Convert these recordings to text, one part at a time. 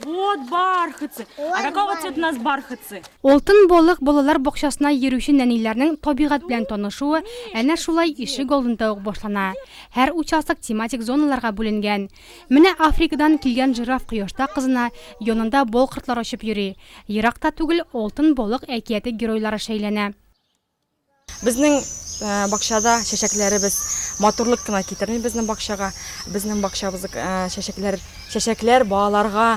Вот бархатцы! А какого цвета у нас бархатцы? Алтын балык балалар бакчасына йөрүче нәниләрнең табигать белән танышуы әнә шулай ишек алдында ук башлана. Һәр участок тематик зоналарга бүленгән. Менә Африкадан килгән жираф кояшта кызына, янында бал кортлар очып йөри. Ерак та түгел Алтын балык әкияте геройлары шәйләнә. Безнең бакчада чәчәкләребез матурлык кына китерми безнең бакчага. Безнең бакчабыз чәчәкләр, чәчәкләр балаларга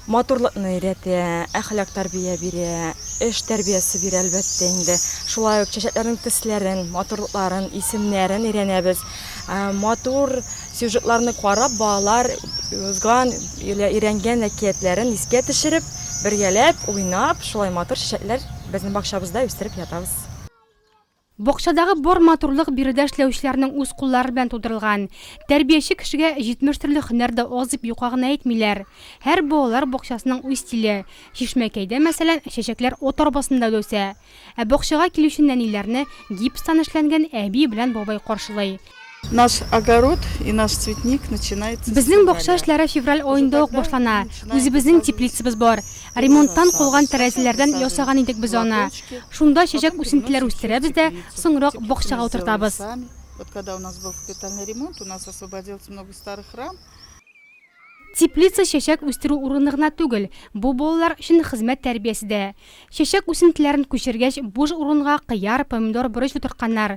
матурлыкны өйрәтә, әхлак тәрбия бирә, эш тәрбиясе бирә әлбәттә инде. Шулай ук чәчәкләрнең төсләрен, матурлыкларын, исемнәрен өйрәнәбез. Матур сюжетларны карап, балалар узган, өйрәнгән әкиятләрен искә төшереп, бергәләп уйнап, шулай матур чәчәкләр Безнең бакчабызда үстереп ятабыз. Бакчадагы бар матурлык биредә эшләүчеләрнең үз куллары белән тудырылган. Тәрбияче кешегә җитмеш төрле һөнәр дә аз дип юкка гына әйтмиләр. Һәр балалар бакчасының үз стиле. Чишмәкәйдә, мәсәлән, чәчәкләр от арбасында дә үсә. Ә бакчага килүче нәниләрне гипстан эшләнгән әби белән бабай каршылый. Наш огород и наш цветник начинается. Безнең бакча эшләре февраль аенда ук башлана. Үзебезнең теплицабыз бар. Ремонттан калган тәрәзәләрдән ясаган идек без аны. Шунда чәчәк үсентеләр үстерәбез дә, соңрак бакчага утыртабыз. Вот когда у нас был капитальный ремонт, у нас освободилось много старых рам. Теплица чәчәк үстерү урыны гына түгел, бу балалар өчен хезмәт тәрбиясе дә. Чәчәк үсентеләрен күчергәч, буш урынга кыяр, помидор, борыч утыртканнар.